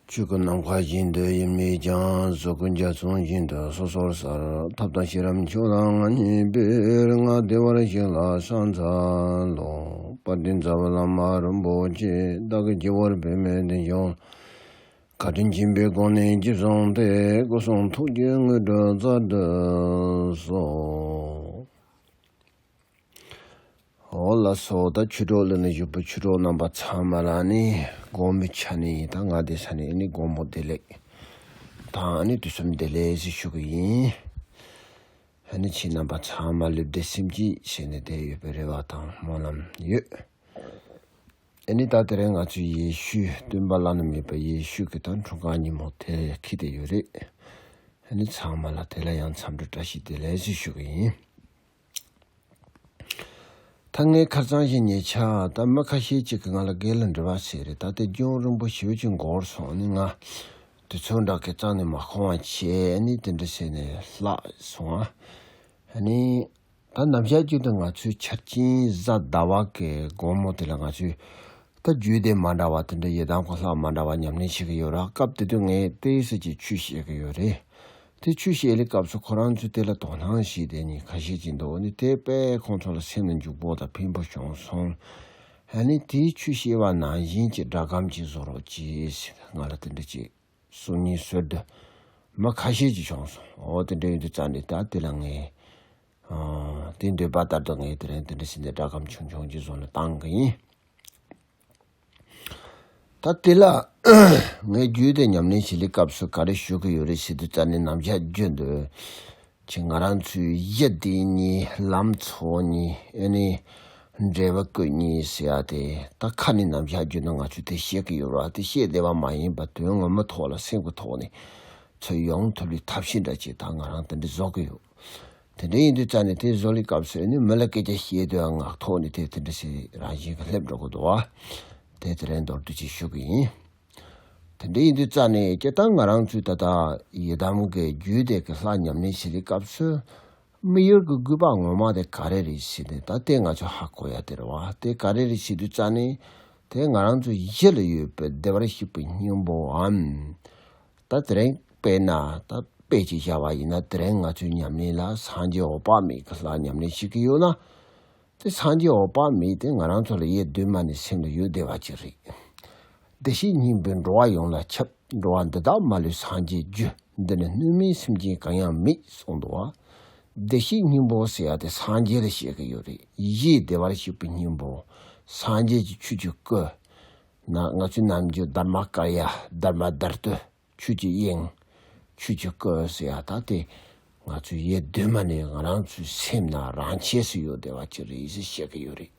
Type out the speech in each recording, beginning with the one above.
བཅུད་ཀྱི་ནམ་མཁའ་བཞིན་དུ་ཡིད་མོས་ཀྱང་གཟུགས་ཀྱི་འཇའ་ཚོན་བཞིན་དུ་སོ་སོར་སར་ཐབས་དང་ཤེས་རབ་མཆོག་དང་ལྔ་གཉིས་པོས་ལྔ་བདེ་བར་གཤེགས་ལ་སངས་འཚལ་ལོ། དཔའ་གདན་རྫ་བ་བླ་མ་རིན་པོ་ཆེ་བདག་གི་སྐྱེ་བོར་བོད་མིའི་བདེ་འབྱུང་བཀའ་དྲིན་ཆེན་པོའི་སྒོ་ནས་རྗེ་བཟང་ཐེག་སྐུ་གསུང་ཐུགས་ཀྱི་དངོས་གྲུབ་རྩ་བསྒྲུབས་སོ། ཧོ་ལ་སོ་ད་ཆུ་གྲོགས་ལུ་ན་བཞུགས་པའི་ཆུ་གྲོགས་རྣམ་པ་ཚང་མ་ལ་ནི་དགོང་མོའི་ཆ་ནས་ཡིན་དང་ང་འདས་ས་ནས་ནི་དགོང་མོ་བདེ་ལེགས་དང་ནི་དུས་གསུམ་བདེ་ལེགས་ཞེས་ཞུ་གི་ཡིན། ཧ་ནི་ཁྱེད་རྣམ་པ་ཚང་མ་ལུས་བདེ་སེམས་སྐྱིད་བྱས་ནས་བསྡད་ཡོད་པའི་རེ་བ་དང་སྨོན་ལམ་ཡོད། ཨེ་ནི་ད་དེ་རིང་ང་ཚོའི་ཡེ་ཤུའི་སྟོན་པ་བླ་ན་མེད་པ་ཡེ་ཤུ་ཁི་དང་འཁྲུངས་སྐར་ཉིན་མོ་དེ་ཁི་བསྡད་ཡོད་རེད། ཧ་ནི་ཚང་མ་ལ་དེ་ལ་ཡང་འཚམས་འདྲི་བཀྲ་ཤིས་བདེ་ལེགས་ཞེས་ཞུ་གི་ཡིན། ད་ངའི་ཁར་གཙང་ཞིང་ཉེ་ཆ་ད་མི་ཁ་ཤས་ཅིག་གིས་ང་ལ་སྒེར་ལ་འབྲེལ་བ་བྱས་རེད་ད་ཐེ་ཇུང་རིན་པོ་ཆེ་བྱིས་མགོ་བོར་སོང་ནས་ང་དུས་ཚོད་འདྲ་གི་གཙང་ནས་མ་ཁོང་བ་བྱས་ནས་དེ་འདྲ་བྱས་ནས་ལྷག་སོང་ང་ནི་ད་ནམ་ཞག་གཅིག་ཏུ་ང་ཚོའི་ཆར་སྤྱིན་བཟའ་ཟླ་བ་གའི་དགོང་མོ་དེ་ལ་ང་ཚོས་ད་རྒྱུད་སྡེ་མ་འདྲ་བ་དེ་འདྲ་ཡི་དྭགས་གོ་ལྷག་མ་འདྲ་བ་ཉམས་ལེན་བྱེད་གི་ཡོད་ར་སྐབས་དེ་དུས་ངའི་ཏེའི་སེ་ཅིག་ཆུ་བཤད་གི་ཡོད་རེད་དེ་ཆུ་བཤལ་ལེ་སྐབས་སུ་ཁོ་རང་ཚོས་དེ་ལ་དོ་སྣང་བྱས་དེ་ནི་ཁ་ཤས་ཀྱིས་འདོད་ནི་དེ་པས་ཁོང་ཚོ་ལ་སེམས་ལ་འཇུག་པོ་དང་ཕན་པོ་བྱུང་སོང། ཧ་ནི་དེའི་ཆུ་བཤལ་བ་ནང་བཞིན་གྱི་སྒྲ་སྒམ་གྱིས་བཟོ་རོགས་ཅེས་ང་ལ་དེ་འདྲ་གཅིག་གསུང་གཉིས་གསོལ་དུ་མ་ཁ་ཤས་ཀྱིས་བྱུང་སོང་འོ་དེ་འདྲ་ཡོད་འདུག་ཙང་ནི་ད་དེ་ལ་ངས་དེ་འདོད་པ་ལྟར་དུ་ངས་དེ་རིང་དེ་འདྲ་བྱས་འདི་སྒྲ་སྒམ་ཆུང་ཆུང་གྱིས་བཟོ་ན་བཏང་གི་ཡིན། ད་ལྟའི་ལ། ངས་རྒྱུད་སྡེ་ཉམས་ལེན་བྱེད་ལེའི་སྐབས་སུ་ག་རེ་ཞུ་གི་ཡོད་རེད་ཞེས་དུས་རྩ་ནས་ནམ་ཞག་བརྗོད་འདོད་ཀྱི་ང་རང་ཚོའི་གཞི་འདི་གཉིས་ལམ་འཚོ་གཉིས་ཨེ་ནི། འབྲས་བུ་ཀུན་གཉིས་ཟེར་ཡ་དེ་ད་ཁ་ནས་ནམ་ཞག་བརྗོད་ན་ང་ཚོས་དེ་ཤེས་ཀྱི་ཡོད་ར་དེ་ཤེས་བདེ་བ་མ་ཡིན་པ་དོན་ངོ་མ་ཐོག་ལ་སེམས་ཀྱི་ཐོག་ནས་འཚོལ་ཡོང་ཐུབ་རེའི་ཐབས་ཤེས་འདྲ་བྱས་ད་ང་རང་དེ་འདྲ་བཟོ་གི་ཡོད། དེ་འདྲ་ཡིན་དུས་རྩ་ནས་དེ་བཟོ་ལས་སྐབས་སུ་ནི་མི་ལ་སྐད་ཆ་བཤད་དུས་ངག་ཐོག་ནས་དེ་དེ་འདྲ་ཞིག་རང་བཞིན་གྱི་སླེབས་འགྲོ་དགོས་འདུག་བ། དེ་དེ་རེད་མདོར་བསྡུས་ཅིག་ཞུ་གི་ཡིན། དེ་འདྲ་ཡིན་དུས་རྩ་ནས་སྐྱེ་སྟངས་ང་རང་ཚོའི་ད་ལྟ་ཡི་དམ་གྱི་རྒྱུད་སྡེ་གི་ལྷ་ཉམས་ལེན་བྱེད་ལས་སྐབས་སུ་མི་ཡུལ་གྱི་རྒུད་པ་ངོ་མ་དེ་ག་རེ་རེད་བྱེད་དེ་ད་ལྟའི་ང་ཚོ་ཧ་གོ་ཡ་དེ་རེད་བ་དེ་ག་རེ་རེད་བྱེད་དུས་རྩ་ནས་དེ་ང་རང་ཚོའི་ཡིད་ལ་ཡོད་པའི་བདེ་བར་གཤེགས་པའི་སྙིང་པོའམ། ད་དེ་རིང་དཔེ་ན་ད་དཔེ་ཅིག་བཞག་པ་ཡིན་ན་དེ་རིང་ང་ཚོའི་ཉམས་ལེན་ལ་སངས་རྒྱས་འོག་དཔག་མེད་ཀྱི་ལྷ་ཉམས་ལེན་བྱེད་ཀྱི་ཡོད་ན། དེ་སངས་རྒྱས་འོག་དཔག་མེད་དེ་ང་རང་ཚོ་ལ་ཡེ་གདོད་མ་ནས་སེམས་ལ་ཡོད་བསྡད་པ་ཅིག་རེད། བདེ་གཤེགས་སྙིང་པོའི་འགྲོ་བ་ཡོངས་ལ་ཁྱབ་འགྲོ་བ་འདི་དག་མ་ལུས་སངས་རྒྱས་རྒྱུ་འདི་ནི་སྣོད་མིན་སེམས་ཅན་གང་ཡང་མེད་གསུངས་འདུག་བ། བདེ་གཤེགས་སྙིང་པོ་ཟེར་ཡ་དེ་སངས་རྒྱས་ལ་བཤད་ཀྱི་ཡོད་རེད་ཡེ་ཤེས་བདེ་བར་གཤེགས་པའི་སྙིང་པོ། སངས་རྒྱས་ཀྱི་ཆོས་ཀྱི་སྐུ། ན་ང་ཚོའི་རྣམ་འགྱུར་སྡར་མ་དཀར་ཡ་སྡར་མ་དར་དུ་ཆོས་ཀྱི་དབྱིངས། ཆོས་ཀྱི་སྐུ་ཟེར་ཡ་ད་དེ་ང་ཚོའི་ཡེ་གདོད་མ་ནས་ང་རང་ཚོའི་སེམས་ན་རང་ཆས་སུ་ཡོད་བདེ་བ་ཅི་རེད་ཞེས་བཤད་ཀྱི་ཡོད་རེད།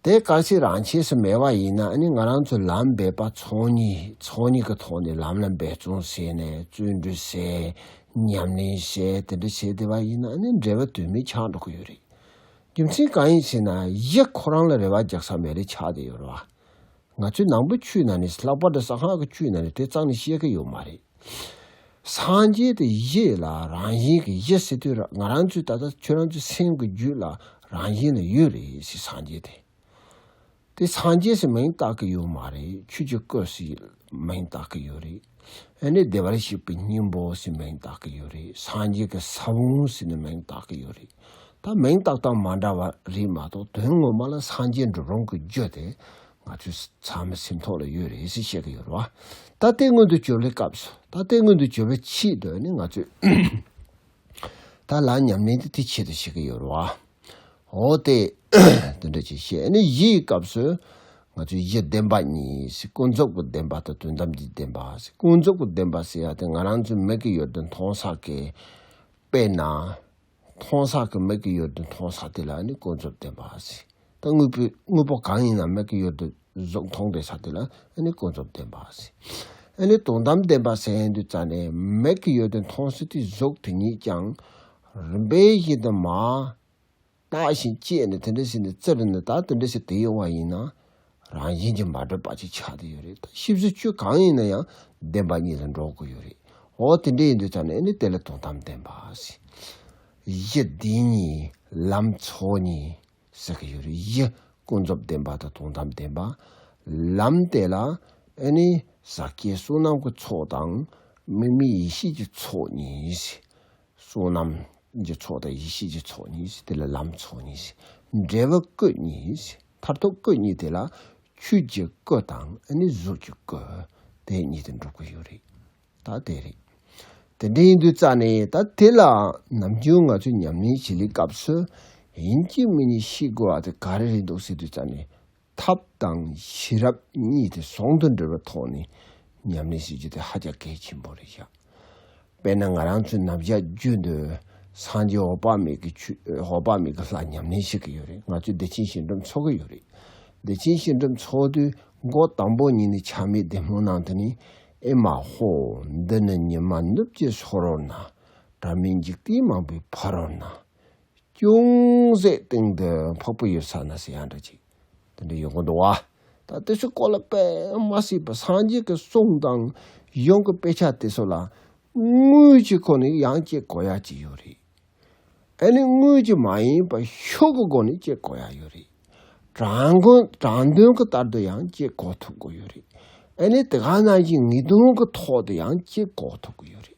དེ་ག་ཚོད་རང་ཆས་སུ་མེད་པ་ཡིན་ན་ཨ་ནི་ང་རང་ཚོ་ལམ་འབད་པ་ཚོགས་གཉིས་ཚོགས་གཉིས་ཀྱི་ཐོག་ནས་ལམ་ལ་འབད་བརྩོན་བྱས་ནས་བརྩོན་འགྲུས་བྱས་ཉམས་ལེན་བྱས་དེ་འདྲ་བྱས་བདེ་བ་ཡིན་ན་ཨ་ནི་འབྲེལ་བ་དུས་མིན་ཆགས་འགྲོ་གི་ཡོད་རེད། རྒྱུ་མཚན་གང་ཡིན་ཟེར་ན་གཞི་ཁོ་རང་ལ་རེ་བ་རྒྱག་ས་མེད་རེད་ཆགས་བསྡད་ཡོད་རེད་བ། ང་ཚོའི་ནང་པའི་ཆུའི་ནང་ནས་ལྷག་པར་དུ་ས་ཁང་གི་ཆུའི་ནང་ནས་དེ་གཙང་ནས་ཤེས་ཀྱི་ཡོད་མ་རེད། སངས་རྒྱས་དེ་གཞི་ལ་རང་བཞིན་གྱི་གཞི་ཟེར་དུས་ང་རང་ཚོའི་ད་ལྟ་ཁྱོད་རང་ཚོའི་སེམས་ཀྱི་རྒྱུད་ལ་རང་བཞིན་ལ་ཡོད་རེད་སེ་སངས་རྒྱས་དེ། དེ་སངས་རྒྱས་སུ་མིང་བཏགས་ཀྱི་ཡོད་མ་རེད་ཆོས་ཀྱི་སྐུ་ཞེས་མིང་བཏགས་ཀྱི་ཡོད་རེད་ཨ་ནི་བདེ་བར་གཤེགས་པའི་སྙིང་པོ་ཞེས་མིང་བཏགས་ཀྱི་ཡོད་རེད་སངས་རྒྱས་ཀྱི་ས་བོན་ཞེས་ནི་མིང་བཏགས་ཀྱི་ཡོད་རེད་ད་མིང་བཏགས་སྟངས་མ་འདྲ་བ་རེད་མ་གཏོགས་དོན་ངོ་མ་ལ་སངས་རྒྱས་འགྲུབ་རུང་གི་རྒྱུ་དེ་ང་ཚོའི་ཚང་མའི་སེམས་ཐོག་ལ་ཡོད་རེད་ཞེས་བཤད་ཀྱི་ཡོད་རེད་བ་ད་ལྟའི་སྔོན་དུ་གྱུར་བའི་སྐབས་སུ་ད་ལྟའི་སྔོན་དུ་གྱུར་བའི་ཆེད་དུ་ནི་ང་ཚོས་ད་ལ་ཉམས་ལེན་དེ་དེའི་ཆེད་དུ་བྱེད་ཀྱི་ཡོད་རེད་བ། འོ་དེ། དེ་འདྲ་ཅིག་བཤད་ནི་གཞི་ཡི་སྐབས་སུ། ང་ཚོས་གཞི་བདེན་པ་གཉིས་ཀུན་རྫོབ་ཀྱི་བདེན་པ་དང་དོན་དམ་གྱི་བདེན་པ། ཀུན་རྫོབ་ཀྱི་བདེན་པ་ཟེར་ཡ་དེ་ང་རང་ཚོའི་མིག་གི་ཡོད་དོ་མཐོང་ས་ཀྱི། དཔེར་ན། མཐོང་ས་ཀྱི་མིག་གི་ཡོད་དོ་མཐོང་ས་དེ་ལ་ནི་ཀུན་རྫོབ་བདེན་པ། ད་དངོས་པོའི་དངོས་པོ་གང་ཡིན་ན་མིག་གི་ཡོད་དོ་གཟུགས་མཐོང་པའི་ས་དེ་ལ་ནི་ཀུན་རྫོབ་བདེན་པ། ཨ་ནི་དོན་དམ་བདེན་པ་ཟེར་ཡ་འདི་རྩ་ནས་མིག་གི་ཡོད་དོ་མཐོང་ས་དེའི་གཟུགས་དེ་ཉིད་ཀྱང། རིམ་པས་ཤེས་དོན་མ། བརྟགས་ཤིང་དཔྱད་ནས་དེ་འདྲ་བྱས་ནས་བཙལ་བས་ན་ད་དེ་འདྲ་ཞིག་དེ་ཡོད་བ་ཡིན་ན། རང་བཞིན་གྱིས་མ་གྲུབ་པ་ཅིག་ཆགས་དུ་ཡོད་རེད་ད་ཤེས་བཟོད་བཅོས་གང་ཡིན་ན་ཡང་བདེན་པ་གཉིས་ལ་འགྲོ་དགོས་ཡོད་རེད་འོ་དེ་འདྲ་ཡིན་དུས་ད་ནས་ནི་དེ་ལ་དོན་དམ་བདེན་པ་གཞི་བདེན་གཉིས་ལམ་ཚོགས་གཉིས་ཟེར་གྱི་ཡོད་རེད་གཞི་ཀུན་རྫོབ་བདེན་པ་དང་དོན་དམ་བདེན་པ། ལམ་དེ་ལ་ནི་ཟག་བཅས་བསོད་ནམས་ཀྱི་ཚོགས་དང་དམིགས་མེད་ཡེ་ཤེས་ཀྱི་ཚོགས་གཉིས། བསོད་ནམས་ཀྱི་ཚོགས་དང་ཡེ་ཤེས་ཀྱི་ཚོགས་གཉིས་དེ་ལ་ལམ་ཚོགས་གཉིས། འབྲས་བུ་སྐུ་གཉིས་མཐར་ཐུག་སྐུ་གཉིས་དེ་ལ་ཆོས་ཀྱི་སྐུ་དང་གཟུགས་ཀྱི་སྐུ་དེ་གཉིས་དེ་འགྲུབ་ཀྱི་ཡོད་རེད་ད་དེ་རེད། དེ་འདྲའི་ཡིན་དུས་རྩ་ནས་ད་དེ་ལའང་ནམ་རྒྱུན་ང་ཚོས་ཉམས་ལེན་བྱེད་ལེའི་སྐབས་སུ་ཡིན་གཅིག་མིན་གཉིས་ཤེས་དགོས་བ་དེ་ག་རེ་རེད་འདུག་ཟེར་དུས་རྩ་ནས་ཐབས་དང་ཤེས་རབ་གཉིས་དེ་ཟུང་དུ་འབྲེལ་བའི་ཐོག་ནས་ཉམས་ལེན་བྱེད་རྒྱུ་དེ་ཧ་ཅང་གལ་ཆེན་པོ་རེད་བཞག་དཔེར་ན་ང་རང་ཚོའི་ནམ་ཞག་བརྒྱུད་འདི་སངས་རྒྱས་འོག་དཔག་མེད་ཀྱི་ཆུ་འོག་དཔག་མེད་ཀྱི་ལྷ་ཉམས་ལེན་བྱེད་ཀྱི་ཡོད་རེད་ང་ཚོས་བདེ་ཆེན་ཞིང་འབྲོམ་འཚོ་གི་ཡོད་རེད་བདེ་ཆེན་ཞིང་འབྲོམ་འཚོ་དུས་མགོ་དང་པོ་ཉིད་ནས་ཆགས་མེད་བདེ་སྨོན་ནང་དུ་ནས་ཨེ་མ་ཧོ་འདི་ནི་ཉི་མ་ནུབ་ཀྱི་ལྷོ་རོལ་ན་དྲྭ་མེད་འཇིག་རྟེན་མང་པོའི་ཕ་རོལ་ན། ཅུང་ཟད་སྟེང་དུ་འཕགས་པོ་ཡོད་ས་ན་སེ་ཡང་འདྲ་ཅིག་དེ་འདྲ་ཡོད་དགོས་འདུག་བ། ད་དེ་ཚོའི་སྐོར་ལ་དཔེ་མ་སྲིད་པར་སངས་རྒྱས་ཀྱི་གསུང་དང་གཞུང་གི་དཔེ་ཆ་དེ་ཚོ་ལ་དངུལ་གྱི་སྒོ་ནས་ཡང་དཔྱད་དགོས་ཡ་ཅིག་ཡོད་རེད། ཨ་ནི་དངུལ་གྱི་མ་ཡིན་པར་ཤུགས་ཀྱི་སྒོ་ནས་དཔྱད་དགོས་ཡ་ཡོད་རེད། དྲང་དོན་གྱི་ལྟར་དུ་ཡང་དཔྱད་དགོས་ཐུབ་དགོས་ཡོད་རེད། ཨ་ནི་དེ་ག་ནང་བཞིན་ངེས་དོན་གྱི་ཐོག་ཏུ་ཡང་དཔྱད་དགོས་ཐུབ་དགོས་ཡོད་རེད།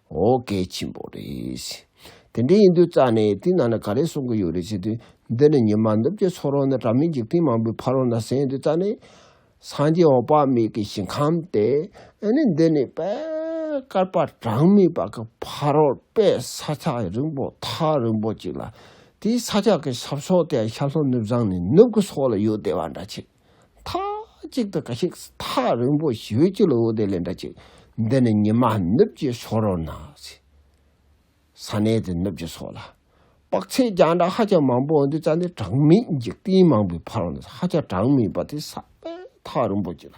ཨོ་གལ་ཆེན་པོ་རེད། དེ་འདྲ་ཡིན་དུས་རྩ་ནས་དེའི་ནང་ནས་ག་རེ་གསུང་གི་ཡོད་རེད་བྱས་དུས་འདི་ནི་ཉི་མ་ནུབ་ཀྱི་ཚོགས་རོལ་ནས་དྲ་མིག་འཇིག་རྟེན་མང་པོའི་ཕ་རོལ་ན་ཟིན་དུས་རྩ་ནས། སངས་རྒྱས་འོག་དཔག་མེད་ཀྱི་ཞིང་ཁམས་ཏེ། ཨེ་ནི་འདི་ནི་དཔལ་དཀར་པ་གྲངས་མེད་པ་གི་ཕ་རོལ་པའི་ས་ཆ་རིང་པོ་ཐག་རིང་པོ་ཅིག་ལ། དེའི་ས་ཆ་གི་ཆབ་སོགས་དེ་ཡང་ཤར་ལྷོ་ནུབ་བྱང་ནས་ནུབ་ཀྱི་སོགས་ལ་ཡོད་བདེ་བ་འདྲ་ཆེ། མཐའ་གཅིག་ཏུ་ག་ཤེད་ཐག་རིང་པོ་ཞི་བའི་སྤྱི་ལ་འོ་དེ་ལས་འདྲ་ཅིག་འདི་ནི་ཉི་མ་ནུབ་ཀྱི་སོགས་རོ་ན། ས་གནས་དེ་ནུབ་ཀྱི་སོགས་ལ། དཔག་ཚད་རྒྱང་གྲགས་ཧ་ཅང་མང་པོ་འོ་འདི་རྩ་འདི་གྲངས་མེད་འཇིག་རྟེན་མང་པོའི་ཕ་རོལ་ན་ཧ་ཅང་གྲངས་མེད་པ་དེ་ས་པའི་ཐག་རིང་པོ་ཅིག་ལ།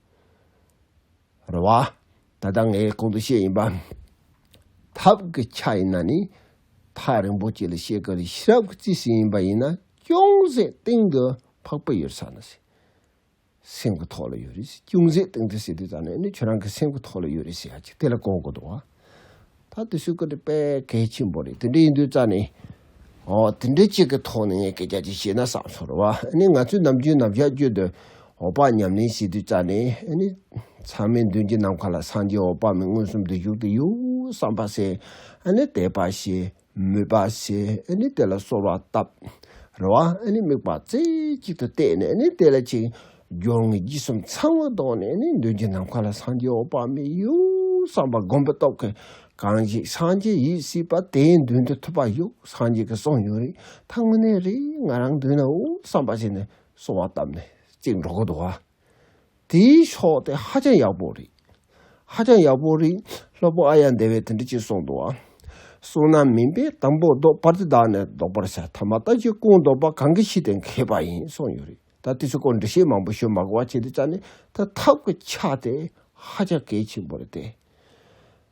རེད་བ། ད་ལྟ་ངས་གོང་དུ་བཤད་ཡིན་པ། ཐབས་ཀྱི་ཆ་ཡིན་ན་ནི་ཐག་རིང་པོ་བཅད་ལ་བཤད་ཀྱི་རེད་ཤེས་རབ་ཀྱི་རྩིས་སུ་ཡིན་པ་ཡིན་ན་ཅུང་ཟད་སྟེང་གི་འཕགས་པའི་ཡོད་ས་ན་ཟེར། སེམས་ཀྱི་ཐོག་ལ་ཡོད་རེད་ཟེར་ཅུང་ཟད་སྟེང་དུ་ཟེར་དུས་ད་ནས་ནི་ཁྱོད་རང་གི་སེམས་ཀྱི་ཐོག་ལ་ཡོད་རེད་ཟེར་ཡ་ཅིག་དེ་ལ་གོ་དགོས་འདུག་བ། ད་དུ་ཤུགས་ཀྱི་དཔལ་གལ་ཆེན་པོ་རེད་དེ་འདྲ་ཡིན་དུས་རྩ་ནས། དེ་འདྲ་ཅིག་གི་ཐོག་ནས་ངས་སྐད་ཆ་ཅིག་བཤད་ན་བསམ་ཚོར་བ་ནི་ང་ཚོས་ནམ་རྒྱུན་ནམ་ཞག་བརྒྱུད་དུ་འོག་པགས་ཉམས་ལེན་བྱེད་དུས་རྩ་ནས། ཚང་མའི་མདུན་གྱི་ནམ་མཁའ་ལ་སངས་རྒྱས་འོག་པགས་མི་མངོན་སུམ་དུ་བཞུགས་དུས་ཡོད་བསམ་པ་ཟད་དེ་དཔག་བྱའི། མོས་པ་བྱེད་ནི་དེ་ལ་གསོལ་བ་བཏབ། རེ་བ་ནི་དམིགས་པ་རྩེ་གཅིག་ཏུ་གཏད་ནས་ནི་དེ་ལ་ཅིག། སྦྱོར་ངན་བརྒྱུད་གསུམ་ཚང་བར་བཟློག་ནས་ནི་མདུན་གྱི་ནམ་མཁའ་ལ་སངས་རྒྱས་འོད་དཔག་མེད་གཡུ་བསམ་པ་སྒོམ་པའི་སྟོབས་ཀྱིས་གང་ཞིག་སངས་རྒྱས་ཡིད་སྲིད་པ་དེའི་མདུན་དུ་ཐུབ་པ་གཡུ་སངས་རྒྱས་ཀྱི་གསུང་ཡོད་རིག་ཐང་ངུ་ནས་རེ་ང་རང་མདུན་ན་འོད་བསམ་པ་བྱས་ནས་གསོལ་བ་བཏབ་ནས་ཅིག་འགྲོ་ཀུན་དུ་བ། དེའི་ཕྱོགས་དེ་ཧ་ཅང་ཡག་པོ་རེད། ཧ་ཅང་ཡག་པོ་རེད། སློབ་དཔོན་ཨ་ཡ་འདས་པས་དེ་འདྲ་བྱེད་སོང་འདུག་ཨ། སོང་ན་མིན་པས་དང་པོ་ཟློག་པར་དེ་དག་ནས་ཟློག་པར་བྱ་ཐ་མ་ད་ཅི་ཀུན་ཟློག་པ་གང་གི་ཕྱི་དེ་མཁས་པ་ཡིན་གསུངས་ཡོད་རེད་ད་དེ་ཚོའི་སྐོར་འབྲི་བཤད་མང་པོ་ཞུ་མ་དགོས་པ་བྱས་ཏེ་བཅར་ནས་ད་ཐབས་ཀྱི་ཆ་དེ་ཧ་ཅང་གལ་ཆེན་པོ་རེད་དེ།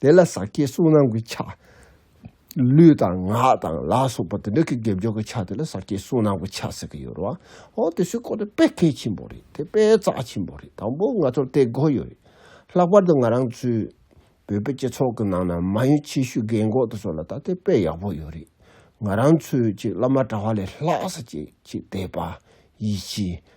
དེ་ལ་ཟག་བཅས་གསུམ་རྣམས་ཀྱི་ཆ། ལུས་དང་ངག་དང་ལ་སོགས་པ་དེ་འདྲ་གི་དགེ་སྦྱོར་གྱི་ཆ་དེ་ལ་ཟག་བཅས་གསུམ་རྣམས་ཀྱི་ཆ་ཟེར་གྱི་ཡོད་རེད་བ། ཨོ་དེ་སུའི་སྐོར་དེ་དཔེ་གལ་ཆེན་པོ་རེད་དེ་དཔེ་རྩ་ཆེན་པོ་རེད་དང་པོ་ང་ཚོར་དེ་དགོས་ཡོད་རེད། ལྷག་པར་དུ་ང་རང་ཚོའི་བོད་པའི་སྤྱི་ཚོགས་ཀྱི་ནང་ན་མ་ཡུམ་ཆེ་ཤོས་རྒན་གོག་དེ་ཚོ་ལ་ད་དེ་དཔེ་ཡག་པོ་ཡོད་རེད། ང་རང་ཚོའི་ཅིག་བླ་མ་གྲྭ་བ་ལས་ལྷག་ཟག་བཅས་ཅིག་དད་པ། ཡིད་ཆེས།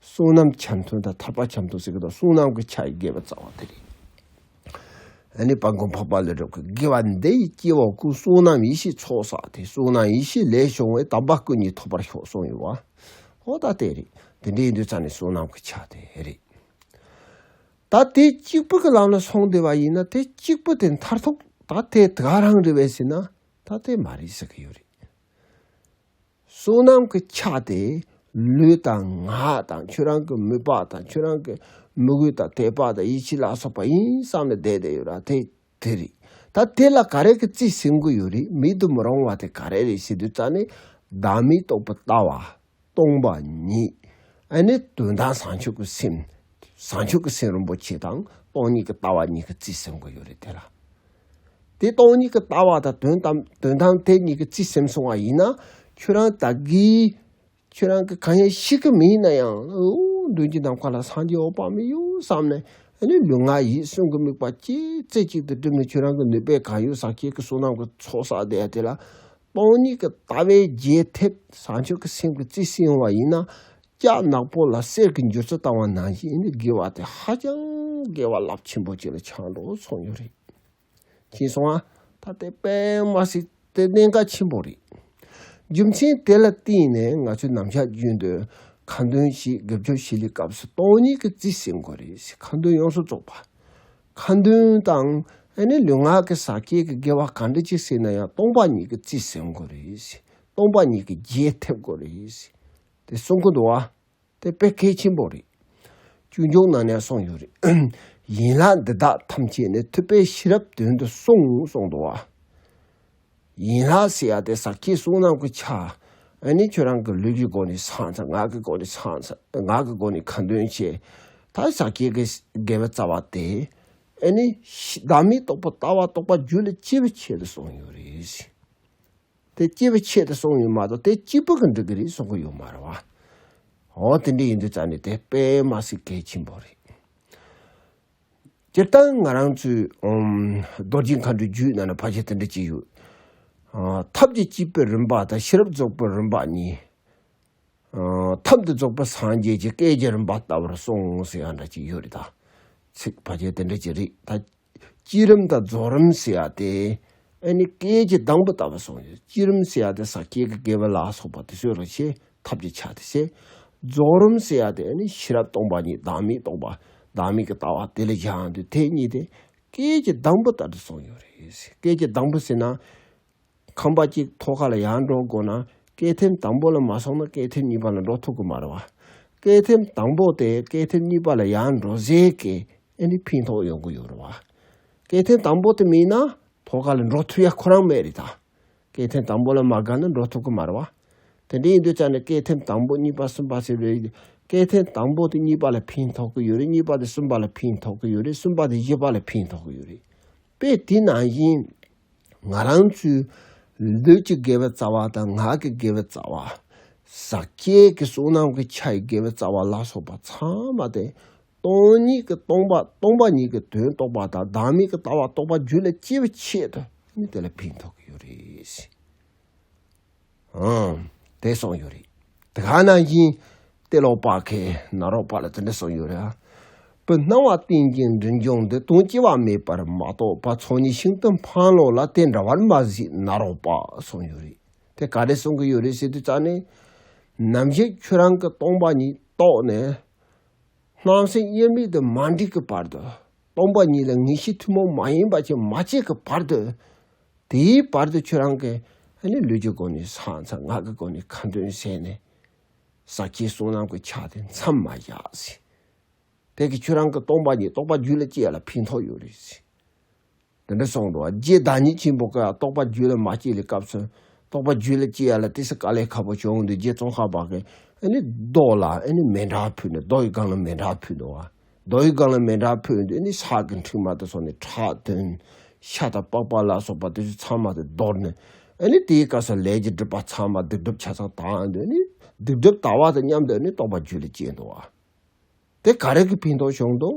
བསོད་ནམས་ཆ་མཐུན་དང་ཐར་པ་ཆ་མཐུན་ཟེར་གི་དོན་བསོད་ནམས་ཀྱི་ཆ་ཡི་དགེ་བའི་རྩ་བ་དེ་རེད། ཨ་ནི་སྤང་གོང་འཕགས་པ་ལས་གྲུབ་ཀྱི་དགེ་བ་འདི་ཡིས་སྐྱེ་བ་ཀུན་བསོད་ནམས་ཡེ་ཤེས་ཚོགས་བསགས་ཏེ་བསོད་ནམས་ཡེ་ཤེས་ལས་བྱུང་བའི་དམ་པ་ཀུན་གྱི་ཐོབ་པར་ཤོག་གསུངས་ཡོད་བ། ཧོ་ད་དེ་རེད་དེ་འདྲའི་འདོད་རྩ་ནི་བསོད་ནམས་ཀྱི་ཆ་དེ་རེད། ད་དེ་གཅིག་པུ་གི་ལམ་ལ་སོང་བསྡད་པ་ཡིན་ན་དེ་གཅིག་པུ་དེ་མཐར་ཐུག་ད་དེ་ག་རང་རེད་བས་ཟེར་ན་ད་དེ་མ་རེད་ཟེར་གི་ཡོད་རེད། བསོད་ནམས་ཀྱི་ཆ་དེ་ལུས་དང་ངག་དང་ཁྱོད་རང་གི་མོས་པ་དང་ཁྱོད་རང་གི་མོས་གུས་དང་དད་པ་དང་ཡིད་ཆེས་ལ་སོགས་པ་ཡིན་བསམ་ནས་བསྡད་བསྡད་ཡོད་ར་དེ་དེ་རེད་ད་དེ་ལ་ག་རེ་གི་རྩིས་ཟིན་གི་ཡོད་རེད་མེད་དུ་མི་རུང་བ་དེ་ག་རེ་རེད་ཞེ་དུས་རྩ་ནས་བདག་མེད་རྟོགས་པའི་ལྟ་བ་སྟོང་པ་ཉིད་ཨ་ནི་དོན་དམ་བཟང་ཕྱོགས་ཀྱི་སེམས་བཟང་ཕྱོགས་ཀྱི་སེམས་རིན་པོ་ཆེ་དང་སྟོང་ཉིད་ཀྱི་ལྟ་བ་གཉིས་ཀྱི་རྩིས་ཟིན་གི་ཡོད་རེད་དེ་ལ། དེ་སྟོང་ཉིད་ཀྱི་ལྟ་བ་དང་དོན་དམ་དོན་དམ་དེ་ཉིད་ཀྱི་རྩིས་སེམས་སྲུང་བ་ཡིན་ན་ཁྱོད་རང་ད་གིས་ཁྱོད་རང་གིས་གང་ཡང་ཤེས་ཀྱི་མིན་ན་ཡང་མདུན་གྱི་ནམ་མཁའ་ལ་སངས་རྒྱས་འོད་དཔག་མེད་ཡོད་བསམ་ནས་ནི་ལུས་ངག་ཡིད་གསུམ་གྱི་དམིགས་པ་ཅི་རྩེ་གཅིག་ཏུ་བསྒྲིམས་ནས་ཁྱོད་རང་གི་ནུས་པས་གང་ཡོད་ཟག་བཅས་ཀྱི་བསོད་ནམས་ཀྱི་ཚོགས་བསགས་བསྡད་ཡ་དེ་ལ་སྟོང་ཉིད་ཀྱི་ལྟ་བས་རྒྱས་ཐེབས་བཟང་སྤྱོད་ཀྱི་སེམས་ཀྱི་རྩི་བསྲིང་བ་ཡིན་ན། སྐྱག་ནག་པོ་ལ་གསེར་གྱི་འགྱུར་རྩི་བཏང་བ་ནང་བཞིན་ནི་དགེ་བ་དེ་ཧ་ཅང་དགེ་བ་རླབས་ཆེན་པོ་ཅིག་ལ་ཆགས་འགྲོ་ཚོར་ཉོ་རེད། ཅེས་གསུང་ཨ། ད་ལྟའི་པདྨ་སི་ཏི་གནད་འགག་ཆེན་པོ་རེད། རྒྱུ་མཚན་དེ་ལ་བརྟེན་ནས་ང་ཚོས་ནམ་ཞག་རྒྱུན་དུ་ཁ་འདོན་གྱིས་དགེ་སྦྱོར་བྱེད་ལུགས་སྐབས་སུ་སྟོང་ཉིད་ཀྱི་རྩི་བསྲིང་དགོས་རེད་ཟེར་ཁ་འདོན་ཡོངས་སུ་རྫོགས་པ། ཁ་འདོན་དང་ཨ་ནི་ལུས་ངག་གི་ཟག་སྐྱེས་ཀྱི་དགེ་བ་ག་འདྲ་ཅིག་སྲིད་ན་ཡང་སྟོང་པ་ཉིད་ཀྱི་རྩིས་ཟིན་དགོས་རེད། སྟོང་པ་ཉིད་ཀྱི་རྒྱས་ཐེབས་དགོས་རེད། དེ་གསུང་གི་འདུག་བ། དེ་དཔེ་གལ་ཆེན་པོ་རེད། ཅུང་ཅུང་ནང་ནས་གསུངས་ཡོད་རེད། ཡིན་ལགས་འདི་དག་ཐམས་ཅད་ནི་ཐུབ་པའི་ཤེས་རབ་དོན་དུ་གསུངས་གསུངས་འདུག་བ། ཡིན་ལ་སྲིད་ཡ་དེ་ཟག་ཁྱི་གསུང་ནང་གི་ཆ། ཨ་ནི་ཁྱོད་རང་གི་ལུས་ཀྱི་སྒོ་ནས་ཚང་ཚང་ངག་གི་སྒོ་ནས་ཚང་ཚང་ངག་གི་སྒོ་ནས་ཁ་འདོན་བྱེད། ད་ཟག་ཁྱི་གི་དགེ་བའི་རྩ་བ་དེ། ཨ་ནི། བདག་མེད་རྟོགས་པ་ལྟ་བ་རྟོགས་པ་རྒྱུད་ལ་སྐྱེས་བུ་ཆེད་དུ་གསུངས་ཡོད་རེད། དེ་སྐྱེས་བུ་ཆེད་དུ་གསུངས་ཡོད་མ་གཏོགས་དེ་གཅིག་པུ་གི་འགྲིག་གི་རེད་གསུང་གི་ཡོད་མ་རེད་བ། ཨོ་དེ་འདྲས་ཡིན་དུས་རྩ་ནས་དེ་དཔེ་མ་ཟིག་གལ་ཆེན་པོ་རེད། སྤྱིར་བཏང་ང་རང་ཚོའི་རྡོ་རྗེ་མཁའ་འགྲོའི་རྒྱུད་ནང་ན་བར་ཆད་དེ་འདྲ་གཅིག་ཡོད། ཐབས་ཀྱི་སྤྱི་དཔལ་རིམ་པ་དང་ཤེས་རབ་རྫོགས་པའི་རིམ་པ་གཉིས། ཐབས་འདི་རྫོགས་པའི་སངས་རྒྱས་ཀྱི་བཀའི་རྒྱ་རིམ་པ་ལྟ་བུར་སོང་ངོ་ཟེར་ཡ་འདྲ་གཅིག་ཡོད་རེད་ད། ཚིག་བར་ཆད་དེ་འདྲ་གཅིག་རེད་ད། སྤྱི་རིམ་དང་རྫོགས་རིམ་ཟེར་ཡ་དེ། ཨ་ནི་བཀའི་རྒྱ་དང་པོ་ལྟ་བུ་སོང་ཡོད། སྤྱི་རིམ་ཟེར་ཡ་དེ་ས་སྐྱའི་དགེ་བ་ལ་སོགས་པ་དེ་ཚོའི་རིག་བྱེད་ཐབས་ཀྱི་ཆ་དེ་ཞེས། རྫོགས་རིམ་བསལ་བ་དེ་ནི་ཤེས་རབ་སྟོང་པ་ཉིད་བདག་མེད་རྟོགས་པ་བདག་མེད་ཀྱི་ལྟ་བ་དེ་ལས་གཞན་དུ་དེ་གཉིས་ཏེ། སྐས་ཀྱི་གདང་བུ་ལྟར་དུ་སོང་ཡོད་རེད། སྐས་ཀྱི་གདང་བུ་ཟེར་ན། ཁང་པ་གཅིག་མཐོ་ཁ་ལ་ཡར་འགྲོ་དགོས་ན། སྐས་ཐེམ་དང་པོ་ལ་མ་སོང་ན་སྐས་ཐེམ་གཉིས་པ་ལ་འགྲོ་ཐུབ་ཀྱི་མ་རེད་བ། སྐས་ཐེམ་དང་པོ་དེ་སྐས་ཐེམ་གཉིས་པ་ལ་ཡར་འགྲོ་ཟེར་སྐད་ཨེ་ནི་ཕན་ཐོགས་ཡོང་གི་ཡོད་རེད་བ། སྐས་ཐེམ་དང་པོ་དེ་མེད་ན་མཐོ་ཁ་ལ་འགྲོ་ཐུབ་ཡ་ཁོ་རང་མེད་རེད་ད། སྐས་ཐེམ་དང་པོ་ལ་མ་དགའ་ན་འགྲོ་ཐུབ་ཀྱི་མ་རེད་བ། དེ་འདྲ་ཡིན་དུས་ཙང་ནས་སྐས་ཐེམ་དང་པོ་གཉིས་པ་གསུམ་པ་ཟེར་བའི་སྐས་ཐེམ་དང་པོ་དེ་གཉིས་པ་ལ་ཕན་ཐོགས་ཀྱི་ཡོད་རེད་གཉིས་པ་དེ་གསུམ་པ་ལ་ཕན་ཐོགས་ཀྱི་ཡོད་རེད་གསུམ་པ་དེ་བཞི་པ་ལ་ཕན་ཐོགས་ཀྱི་ཡོད་རེད་པས་དེ་ནང་བཞིན་ང་རང་ཚོའི་ལུས་ཀྱི་དགེ་བའི་རྩ་བ་དང་ངག་གི་དགེ་བའི་རྩ་བ། ཟག་བཅས་ཀྱི་བསོད་ནམས་ཀྱི་ཆ་ཡི་དགེ་བའི་རྩ་བ་ལ་སོགས་པ་ཚང་མ་དེ་སྟོང་ཉིད་ཀྱི་སྟོང་པ་སྟོང་པ་ཉིད་ཀྱི་དོན་རྟོགས་པ་དང་བདག་མེད་ཀྱི་ལྟ་བ་རྟོགས་པ་རྒྱུད་ལ་སྐྱེས་པའི་ཆེད་དུ་ནི་དེ་ལ་ཕན་ཐོགས་ཀྱི་ཡོད་རེད། ཨང། དེ་གསུངས་ཡོད་རེད། དེ་ག་ནང་བཞིན་ལྟས་ལོག་པ་ཁའི་ནང་རོགས་པ་ལ་དེ་འདྲ་གསུངས་ཡོད་རེད། བུ་སྣང་བ་རྟེན་ཅིང་འབྲིང་འབྱུང་འདི་དོན་སྐྱེ་བ་མེད་པར་མ་རྟོགས་པ་ཚོགས་གཉིས་ཤིང་རྟ་འཕང་ལོག་ལ་དེ་འདྲ་བར་མ་གཟིགས་ན་རོགས་པ་གསུངས་ཡོད་རེད། དེ་ག་རེ་གསུངས་ཀྱི་ཡོད་རེད་ཟེར་དུས་ཙང་ནས། ནམ་ཞིག་ཁྱོད་རང་གི་སྟོང་པ་ཉིད་རྟོགས་ནས། སྣང་སེམས་དབྱེར་མེད་དུ་མ་འདྲེས་ཀྱི་བར་དུ། སྟོང་པ་ཉིད་ལ་ངེས་ཤེས་ཐུན་མོང་མ་ཡིན་པ་ཆེན་མ་སྐྱེས་ཀྱི་བར་དུ། དེའི་བར་དུ་ཁྱོད་རང་གིས་ནི་ལུས་ཀྱི་སྒོ་ནས་ས་མཚམས་ངག་གི་སྒོ་ནས་ཁ་འདོན་བྱས་ནས། ས་སྐྱའི་གསུང་རྣམས་ཀྱི་ཆ་དེ་མཚམས་མ་བཞག། དེ་གིས་ཁྱོད་རང་གི་སྟོང་པ་ཉིད་རྟོགས་པ་རྒྱུད་ལ་སྐྱེས་ལ་ཕན་ཐོགས་ཡོད་རེད། དེ་འདྲ་སོང་འགྲོ་བ་རྗེ་བདག་ཉིད་ཆེན་པོ་ཀྱེ་རྟོགས་པ་རྒྱུད་ལ་མ་སྐྱེས་ལས་སྐབས་སུ་རྟོགས་པ་རྒྱུད་ལ་སྐྱེ་ཡ་ལ་དེ་སྲིད་ཀ་ལས་ཁ་བོ་བྱུང་འདུས་རྗེ་ཙོང་ཁ་བ་ཀྱེ་ཨེ་ནི་རྡོ་ལ་ཨེ་ནི་མེ་འདྲ་ཕུལ་ནས་རྡོ་ཡི་སྒང་ལ་མེ་འདྲ་ཕུལ་འདུག་བ་རྡོ་ཡི་སྒང་ལ་མེ་འདྲ་ཕུལ་འདུས་ཨེ་ནི་ཤག་གི་འཁྲིག་མ་དུ་སོང་ནས་ཁྲག་འཐུང། ཤ་དང་པགས་པ་ལ་སོགས་པ་དེ་ཚོའི་ཚང་མ་དེ་བརྡོལ་ནས་ཨེ་ནི་དེའི་སྐབས་སུ་ལས་ཀྱི་སྒྲིབ་པ་ཚང་མ་སྡིག་སྒྲིབ་ཆ་ཚང་དག་འདུས་ཨེ་ནི་སྡིག་སྒྲིབ་དག་བ་དང་མཉམ་དུ་ཨེ་ནི་རྟོགས་པ་རྒྱུད་ལ་སྐྱེས་འདུག་བ། དེ་ག་རེ་གི་ཕན་ཐོགས་བྱུང་འདུག་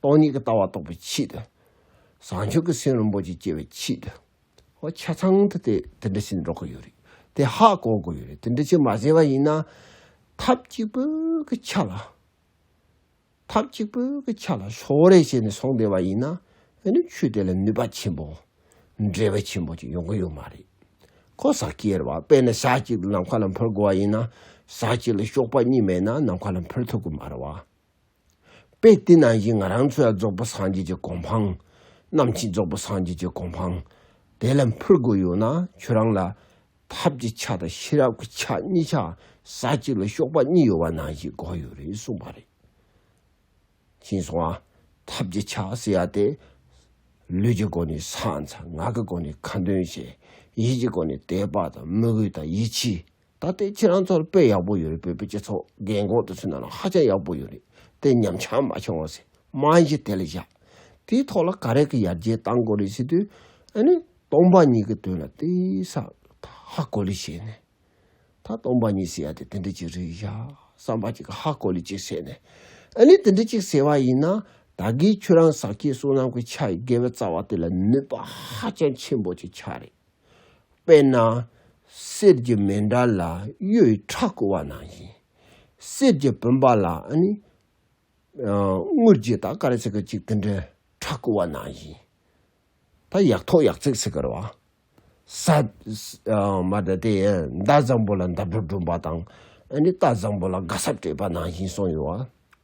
སྟོང་ཉིད་ཀྱི་ལྟ་བ་རྟོགས་པའི་ཆེད་དུ། བཟང་སྤྱོད་ཀྱི་སེམས་རིན་པོ་ཆེ་སྐྱེ་བའི་ཆེད་དུ། ཧོ་ཆ་ཚང་དུ་དེ་དེ་འདྲ་ཞིག་འགྲོ་གི་ཡོད་རེད། དེ་ཧ་གོ་དགོས་ཡོད་རེད་དེ་འདྲ་ཞིག་མ་བྱས་པ་ཡིན་ན། ཐབས་གཅིག་པུ་གི་ཆ་ལ། ཐབས་གཅིག་པུ་གི་ཆ་ལ་ཕྱོགས་རེས་བྱས་ནས་སོང་བསྡད་པ་ཡིན་ན། དེ་ནི་ཆོས་དེ་ལ་ནུས་པ་ཆེན་པོ། འབྲས་བུ་ཆེན་པོ་ཅིག་ཡོང་གི་ཡོད་མ་རེད། ཁོ་ཟ་ཀི་ཡེར་བ་དཔེ་ན་ཞག་གཅིག་ལ་ནམ་མཁའ་ལ་འཕུར་དགོས་པ་ཡིན་ན། ཞག་གཅིག་ལ་གཤོག་པ་གཉིས་མེད་ན་ནམ་མཁའ་ལ་འཕུར་ཐུབ་གི་མ་རེད་བ། དཔེ་དེ་ནང་བཞིན་ང་རང་ཚོ་ཡང་རྫོགས་པ་སངས་རྒྱས་ཀྱི་གོ་འཕང། ནམ་ཕྱིན་རྫོགས་པ་སངས་རྒྱས་ཀྱི་གོ་འཕང། དེ་ལ་འཕུར་དགོས་ཡོད་ན་ཁྱོད་རང་ལ། ཐབས་ཀྱི་ཆ་དང་ཤེས་རབ་ཀྱི་ཆ་གཉིས་ཆ་ས་གཅིག་ལ་གཤོག་པ་གཉིས་ཡོད་པ་ནང་བཞིན་གོ་ཡོད་རེད་གསུངས་པ་རེད། ཕྱིན་སོང་ཨ། ཐབས་ཀྱི་ཆ་ཟེར་ཡ་དེ། ལུས་ཀྱི་སྒོ་ནས་སངས། ངག་གི་སྒོ་ནས་ཁ་འདོན་བྱེད། ཡིད་ཀྱི་སྒོ་ནས་དད་པ་དང་དམིགས་ཡུལ་དང་ཡིད་ཆེས། ད་ལྟའི་ཁྱེད་རང་ཚོར་དཔེ་ཡག་པོ་ཡོད་རེད་བོད་པའི་སྤྱི་ཚོགས་རྒན་གོག་དེ་ཚོའི་ནང་ལ་ཧ་ཅང་ཡག་པོ་ཡོད་རེད་དེ་ཉམས་ཆག་མ་བྱུང་བ་སྲིད་དམངས་གཞི་དེ་ལ་བཞག་དེའི་ཐོག་ལ་ག་རེ་གི་ཡར་རྒྱས་གཏང་དགོས་རེད་ཟེར་དུས་ཨ་ནི་སྟོང་པ་ཉིད་ཀྱི་དོན་ལ་དེ་སང་ད་ཧ་གོ་ལི་བྱས་ནས་ད་སྟོང་པ་ཉིད་ཟེར་ཡ་དེ་དེ་འདྲ་ཅིག་རེད་བཞག་བསམ་པ་ཅིག་གི་ཧ་གོ་ལི་ཅིག་བྱས་ནས་ཨ་ནི་དེ་འདྲ་ཅིག་ཟེར་བ་ཡིན་ན་ད་གིས་ཁྱོད་རང་ཟག་ཁྱེད་བསོད་ནམས་ཀྱི་ཆ་ཡི་དགེ་བའི་རྩ་བ་དེ་ལ་ནུས་པ་ཧ་ཅང་ཆེན་པོ་ཅིག་ཆགས་རེད། དཔེར་ན། གསེར་གྱི་མེ་འདྲ་ལ་གཡུའི་ཁྲག་བསྐུ་བ་ནང་བཞིན། གསེར་གྱི་བུམ་པ་ལ་ནི། དངུལ་གྱི་དག་དཀར་ཚིག་གི་གཅིག་དེ་འདྲའི་ཁྲག་བསྐུ་བ་ནང་བཞིན། ད་ཡག་ཐོག་ཡག་ཚིག་ཚིག་གི་རོ། མདའ་བཟང་པོ་ལ་མདའ་སྒྲོ་སྒྲོན་པ་དང། རྟ་བཟང་པོ་ལ་རྒ་སྲབ་སྤྲད་པ་ནང་བཞིན་གསུངས་ཡོད།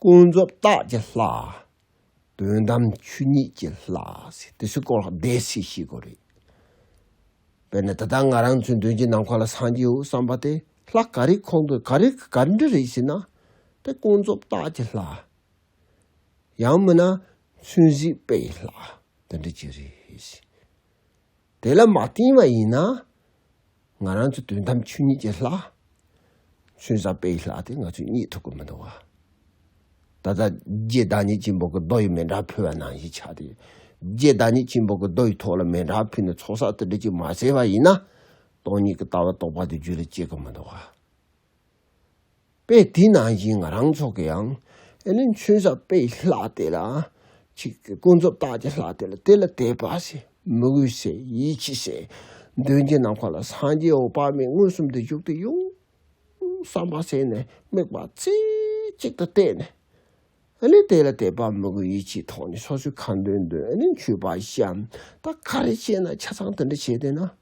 ཀུན་རྫོབ་རྟགས་ཀྱི་ལྷ། དོན་དམ་ཆོས་ཉིད་ཀྱི་ལྷ། དེ་ཚོའི་སྐོར་ལ་བདེན་ཚིག་ཤེས་དགོས་རེད། དཔེར་ན་ད་ལྟ་ང་རང་ཚོའི་མདུན་གྱི་ནམ་མཁའ་ལ་སངས་རྒྱས་འོད་གསལ་འབར་ཏེ་ལྷ་ག་རེ་འཁོར་འདུག་ག་རེ་ག་རེ་འདྲི་རེད་ཟེར་ན། དེ་ཀུན་རྫོབ་རྟགས་ཀྱི་ལྷ། ཡང་མིན་ན་ཚུལ་གཟིགས་དཔེ་ཡི་ལྷ་དེ་འདྲ་གཅིག་རེད། དེ་ལ་མ་བསྟིམ་བ་ཡིན་ན། ང་རང་ཚོ་དོན་དམ་ཆོས་ཉིད་ཀྱི་ལྷ། ཆོས་ཟབ་དཔལ་གྱི་ལྷ་དེ་ང་ཚོས་རྙེད་ཐུབ་ཀྱི་མི་འདུག་བ། ད་ལྟ་རྗེ་བདག་ཉིད་ཀྱིས་འབོ་གི་རྡོ་ཡི་མེ་འདྲ་ཕུལ་བ་ནང་བཞིན་ཆགས་ཏེ། རྗེ་བདག་ཉིད་ཀྱིས་འབོ་གི་རྡོ་ཡི་ཐོག་ལ་མེ་འདྲ་ཕུལ་ནས་ཚོགས་བསགས་དུ་སྦྲེལ་གྱིས་མ་བསྲེས་པ་ཡིན་ན། སྟོང་ཉིད་ཀྱི་ལྟ་བ་རྟོགས་པ་དེ་རྒྱུད་ལ་སྐྱེ་གི་མི་འདུག་བ། དཔེ་དེ་ནང་བཞིན་ང་རང་ཚོ་གི་ཡང་ཨེ་ལིན་ཆོན་ས་དཔེ་ལྷག་དེ་ལ་ཅིག་གི་ཀུན་རྫོབ་རྟགས་ཀྱི་ལྷག་དེ་ལ་དེ་ལ་དད་པ་སེ་མི་དགོས་སེ་ཡིད་ཆེས་སེ་འདོན་གྱི་ནམ་མཁའ་ལ་སངས་རྒྱས་འོག་དཔག་མེད་མངོན་སུམ་དུ་བཞུགས་ཏེ་ཡོང་བསམ་པ་སེ་ནས་དམིགས་པ་རྩེ་གཅིག་ཏུ་གཏད་ནས་ཨེ་ལིན་དེ་ལ་དད་པ་མི་དགོས་ཡིད་ཆེས་ཐོག་ནས་སོ་སོའི་ཁ་འདོན་འདོན་ཨེ་ལིན་ཆོས་པ་བཞི་འམ་ད་ག་རེ་བྱས་ན་ཆ་ཚང་དེ་འདྲ་བྱས་དེ་ན།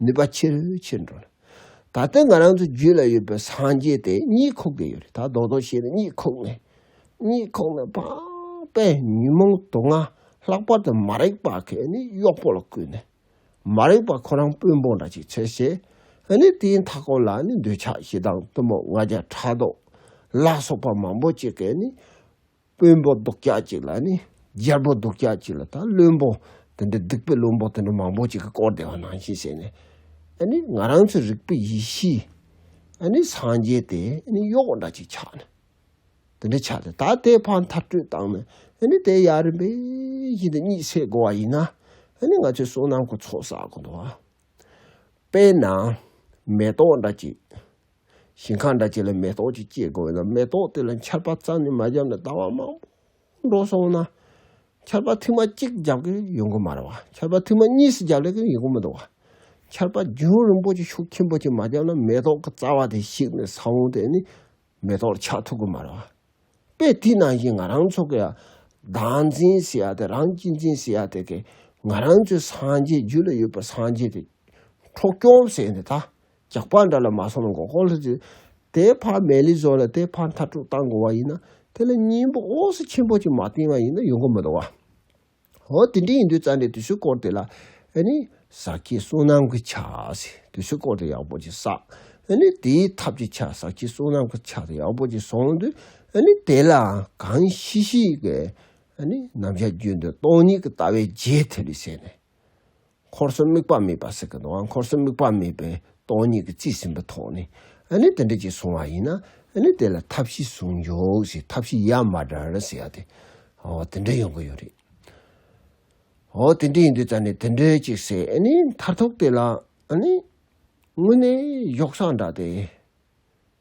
ནུས་པ་ཆེར་ཆེར་འགྲོ། ད་ལྟ་ང་རང་ཚོའི་རྒྱུད་ལ་ཡོད་པའི་སངས་རྒྱས་དེ་གཉིད་ཁུག་གི་ཡོད་རེད་ད་རྡོག་རྡོག་བྱས་ནས་གཉིད་ཁུག་ནས་གཉིད་ཁུག་ནས་པགས་པས་ཉོན་མོངས་དུག་ལྔ་ལྷག་པར་དུ་མ་རིག་པ་གས་ནི་གཡོག་པོ་ལ་བསྐུལ་ནས་མ་རིག་པ་ཁོ་རང་དཔོན་པོ་འདྲ་ཅིག་བྱས་ཤེས་ནི་དེའི་མཐའ་སྐོར་ལ་ནི་འདོད་ཆགས་ཞེ་སྡང་གཏུམ་མོ་ལྔ་བརྒྱ་ཕྲག་དུག་ལ་སོགས་པ་མང་པོ་ཅིག་གས་ནི་དཔོན་པོ་སྡུག་ཅག་ཅིག་ལ་ནི་རྒྱལ་པོ་སྡུག་ཅག་ཅིག་ལ་དང་བློན་པོ་དེ་འདྲ་སྡིག་པའི་བློན་པོ་དེ་འདྲ་མང་པོ་ཅིག་གིས་བསྐོར་བསྡད་པ་ནང་བཞིན་བྱས་ནས། ང་རང་ཚོའི་རིག་པའི་ཡེ་ཤེས་སངས་རྒྱས་དེ་གཡོག་པོ་འདྲ་ཅིག་ཆགས་ནས། དེ་འདྲ་ཆགས་ཏེ་ད་ལྟའི་བར་མཐར་སྤྲོད་བཏང་ནས་དེ་ཡར་རིམ་པས་ཤིན་ཏུ་གཉིད་སད་དགོས་པ་ཡིན་ན། ང་ཚོའི་བསོད་ནམས་ཀྱི་ཚོགས་བསགས་དགོས་འདུག་བ། དཔེར་ན་མེ་ཏོག་འདྲ་ཅིག། ཞིང་ཁ་འདྲ་གཅིག་ལ་མེ་ཏོག་ཅིག་སྐྱེས་དགོས་ན་མེ་ཏོག་དེ་ལ་ཆར་པ་རྩ་ནས་མ་བརྒྱབ་ན་ཟླ་བ་མང་པོ་འགྲོ་སོང་ན་ཆར་པ་ཐིགས་མ་གཅིག་བརྒྱབ་ཀྱི་ཡོང་གི་མ་རེད་བ། ཆར་པ་ཐིགས་མ་གཉིས་སུ་བརྒྱབ་ལེ་ཀྱི་ཡོང་གི་མི་འདུག་བ། ཆར་པ་རྒྱུན་རིང་པོ་ཅིག་ཤུགས་ཆེན་པོ་ཅིག་མ་བརྒྱབ་ན་མེ་ཏོག་གི་རྩ་བ་དེ་བཤིག་ནས་ས་བོན་དེ་ནི་མེ་ཏོག་ཆགས་ཐུབ་ཀྱི་མ་རེད་བ། དཔེ་དེ་ནང་བཞིན་ང་རང་ཚོ་གི་བདག་འཛིན་ཟེར་ཡ་དེ་རང་གཅེས་འཛིན་ཟེར་ཡ་དེ་གི་ང་རང་ཚོའི་སངས་རྒྱས་རྒྱུད་ལ་ཡོད་པའི་སངས་རྒྱས་དེ་འཕྲོག་བཅོམ་ཟེར་ནས་ད་ཇག་པ་འདྲ་ལ་མ་སོང་ན་འགོག་ཁོག་ལྷུ་ཚིགས་དེའི་ཕར་མལ་ལི་བཟོ་ལ་དེའི་ཕར་མཐར་དཀྲུག་བཏང་དགོས་བ་ཡིན་ན་དེ་ལ་སྙིང་པོ་ཨོག་ཟི་ཆེན་པོ་གཅིག་མ་བཏིང་བ་ཡིན་ན་ཡོང་གི་མི་འདུག་བ། ཧོ་དེ་འདྲས་ཡིན་དུས་རྩ་འདྲེ་དུས་ཚོད་སྐོར་དེ་ལ་ཨེ་ནི་ཟ་ཁྱི་བསྲུང་ནམ་གྱི་ཆ་ཟེ་དུས་ཚོད་སྐོར་དེ་ཡག་པོ་གཅིག་བསགས་ཨེ་ནི་དེའི་ཐབས་ཀྱི་ཆ་ཟ་ཁྱི་བསྲུང་ནམ་གྱི་ཆ་དེ་ཡག་པོ་གཅིག་བསྲུང་དུས་ཨེ་ནི་དེ་ལའང་གང་ཤི་ཤི་གི་ཨེ་ནི་ནམ་ཞག་རྒྱུན་དུ་སྟོང་ཉིད་ཀྱི་ལྟ་བའི་རྗེས་ཐེབས་ལས་བྱས་ནས། འཁོར་གསུམ་དམིགས་པ་མེད་པར་ཟེར་གི་འདུག་འཁོར་གསུམ་དམིགས་པ་མེད་པའི་སྟོང་ཉིད་ཀྱི་རྩིས་ཟིན་པའི་ཐོག་ནས་ཨ་ནི་དེ་འདྲ་ཅིག་བཟུང་བ་ཡིན་ན་ཨ་ནི་དེ་ལ་ཐབས་ཤེས་བཟུང་ཡོང་ཞེས་ཐབས་ཤེས་ཡ་མ་འདྲ་རེ་ཟེར་ཡ་དེ་འོ་དེ་འདྲ་ཡོང་གི་ཡོད་རེད། འོ་དེ་འདྲ་ཡིན་དུས་ད་ནི་དེ་འདྲ་ཅིག་ཟེར་ཨ་ནི་མཐར་ཐུག་དེ་ལ་ཨ་ནི་དངོས་གནས་གཞོགས་སངས་འདྲ་སྟེ།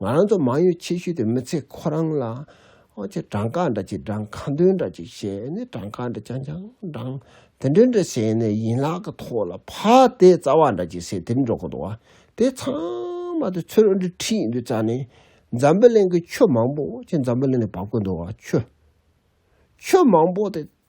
ང་རང་ཚོ་མང་ཡུལ་ཆེ་ཤོས་དེ་མི་ཚེ་ཁོ་རང་ལ་ཨོ་ཆེ་བྲང་ཁ་འདྲ་ཆེ་བྲང་ཁ་མདུན་འདྲ་ཅིག་བྱས་ནས་བྲང་ཁ་འདྲ་ཆང་ཆང་བྲང་དེ་འདྲ་འདྲ་བྱས་ནས་ཡིན་ལག་གི་ཐོག་ལ་ཕག་དེ་རྩ་བ་འདྲ་ཅིག་བྱས་དེར་འགྲོ་གི་འདུག་བ་དེ་ཚང་མ་དེ་ཚོས་འོ་འདྲི་ཁྲིད་འདུག་རྩ་ནས་འཛམ་བུ་གླིང་གི་ཆོས་མང་པོ་ཨོ་ཆེ་འཛམ་བུ་གླིང་ནས་བབ་གི་འདུག་བ་ཆོས་ཆོས་མང་པོ་དེ་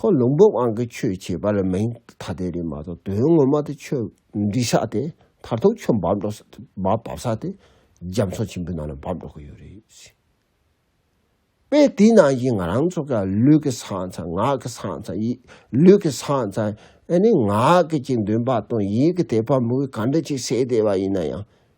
ཁོ་ལུང་པོ་དབང་གི་ཆོས་བྱེད་པ་ལ་མིང་ཐ་དད་རེད་མ་གཏོགས་དོན་ངོ་མ་དེ་ཆོས་འདི་ཤག་དེ་མཐར་ཐུག་ཆོས་འབབ་འགྲོ་ས་འབབ་བབ་ས་དེ་རྒྱ་མཚོ་ཆེན་པོའི་ནང་ལ་འབབ་འགྲོ་གི་ཡོད་རེད། དཔེ་དེའི་ནང་བཞིན་ང་རང་ཚོ་ག་ལུས་ཀྱི་ས་ཚང་ངག་གི་ས་ཚང་ཡིད་ལུས་ཀྱི་ས་ཚང་ཨ་ནི་ངག་གི་ཅིག་འདོན་པ་དང་ཡིད་ཀྱི་དད་པ་མུ་གེ་ག་འདྲ་ཅིག་སེལ་བསྡད་པ་ཡིན་ན་ཡང་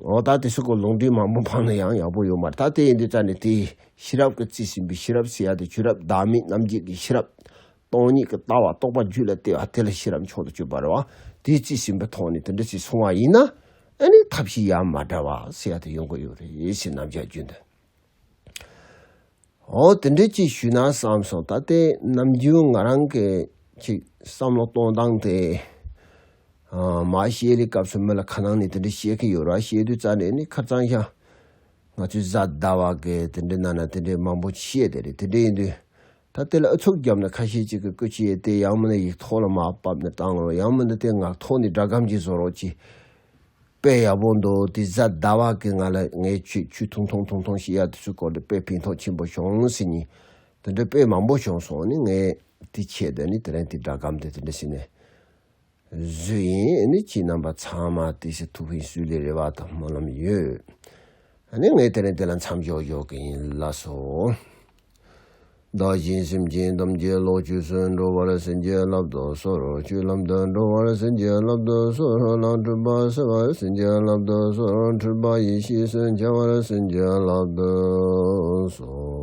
འོ་ད་དེ་སུ་གོ་ལུང་འདི་མང་པོ་འཕངས་ན་ཡང་ཡག་པོ་ཡོད་མར་ད་དེ་ཡིན་དུས་ཙཱ་ནི་དེ་ཤེས་རབ་ཀྱི་རྩིས་ཟིན་པའི་ཤེས་རབ་ཞེས་ཡ་དེ་ཆོས་རབ་བདག་མེད་རྣམ་འབྱེད་ཀྱི་ཤེས་རབ་སྟོང་ཉིད་ཀྱི་ལྟ་བ་རྟོགས་པ་རྒྱུད་ལ་བལྟས་པ་དེ་ལ་ཤེས་རབ་མཆོག་ཏུ་སྤྱོད་པར་བ་དེའི་རྩིས་ཟིན་པའི་ཐོག་ནས་དེ་འདྲ་ཞིག་སོང་བ་ཡིན་ན་ཨ་ནི་ཐབས་ཤེས་ཡ་མ་འདྲ་བ་ཞེས་ཡ་དེ་ཡོང་གི་ཡོད་རེད་ཞེས་རྣམ་བཞག་རྒྱུད་འདི། ཨོ་དེ་འདྲས་ཅིག་ཞུས་ན་བསམ་སོང་ད་ལྟའི་ནམ་རྒྱུན་ང་རང་གི་ཅིག་བསམ་བློ་གཏོང་སྟངས་དེ། མ་བཤད་ལེ་སྐབས་སུ་མི་ལ་ཁ་ནང་ནས་དེ་འདྲས་བཤད་མཁན་ཡོད་ར་བཤད་དུས་རྩ་ནས་ནི་ཁ་གཙང་ཤ། ང་ཚོའི་བཟའ་ཟླ་བ་གས་དེ་འདྲས་གནང་ན་དེ་འདྲས་མང་པོ་བཤད་དེ་རེད་དེ་འདྲས་ཡིན་དུས་ད་དེ་ལ་ཨུ་ཚུགས་བརྒྱབ་ན་ཁ་ཤས་ཅིག་གིས་སྐུ་ཕྱི་ཡས་དེ་ཡང་མིན་ན་ཡིག་ཐོག་ལ་མ་བབས་ནས་བཏང་རོགས་ཡང་མིན་ན་དེ་ངག་ཐོག་ནས་སྒྲ་སྒམ་གྱིས་བཟོ་རོགས་ཅེས། དཔེ་ཡག་པོ་འདུག་དེ་བཟའ་ཟླ་བ་གིས་ང་ལ་ངའི་ཆུས་ཆུ་ཐུང་ཐུང་ཐུང་ཐུང་ཞིག་གཡར་དུས་སུ་སྐོར་དེ་དཔེ་ཕན་ཐོགས་ཆེན་པོ་བྱུང་ཟེར་ཉིན་དེ་འདྲའི་དཔེ་མང་པོ་བྱུང་སོང་ནས་ངས་དེ་ཆད་དེ་ནས་དེ་རིང་དེ་སྒྲ་སྒམ་དེ་དེ་འདྲ་བྱས་ནས་བཟོས་ཡིན་ནི་ཁྱི་རྣམ་པ་ཚང་མ་དེ་ཤི་ཐུབ་ཧི་སུའི་ལས་རེ་བ་དང་སྨོན་ལམ་ཡོད་ནི་ངས་དེ་རིང་དེ་ལ་མཚམས་འཇོག་འཇོག་གི་ཡིན་ལ་སོ། བདག་གཞན་སེམས་ཅན་ཐམས་ཅད་ལོག་སྤྱོད་སུན་འགྲོ་བར་སེམས་ཅན་བསླབ་རྡོ་སོར་བཅུད་ལམ་དུ་འགྲོ་བར་སེམས་ཅན་བསླབ་རྡོ་སོར་ལངས་སྤྲུལ་པ་སེལ་བར་སེམས་ཅན་བསླབ་རྡོ་སོར་འཁྲུལ་པ་ཡེ་ཤེས་སུ་འཆར་བར་སེམས་ཅན་བསླབ་རྡོ་སོ།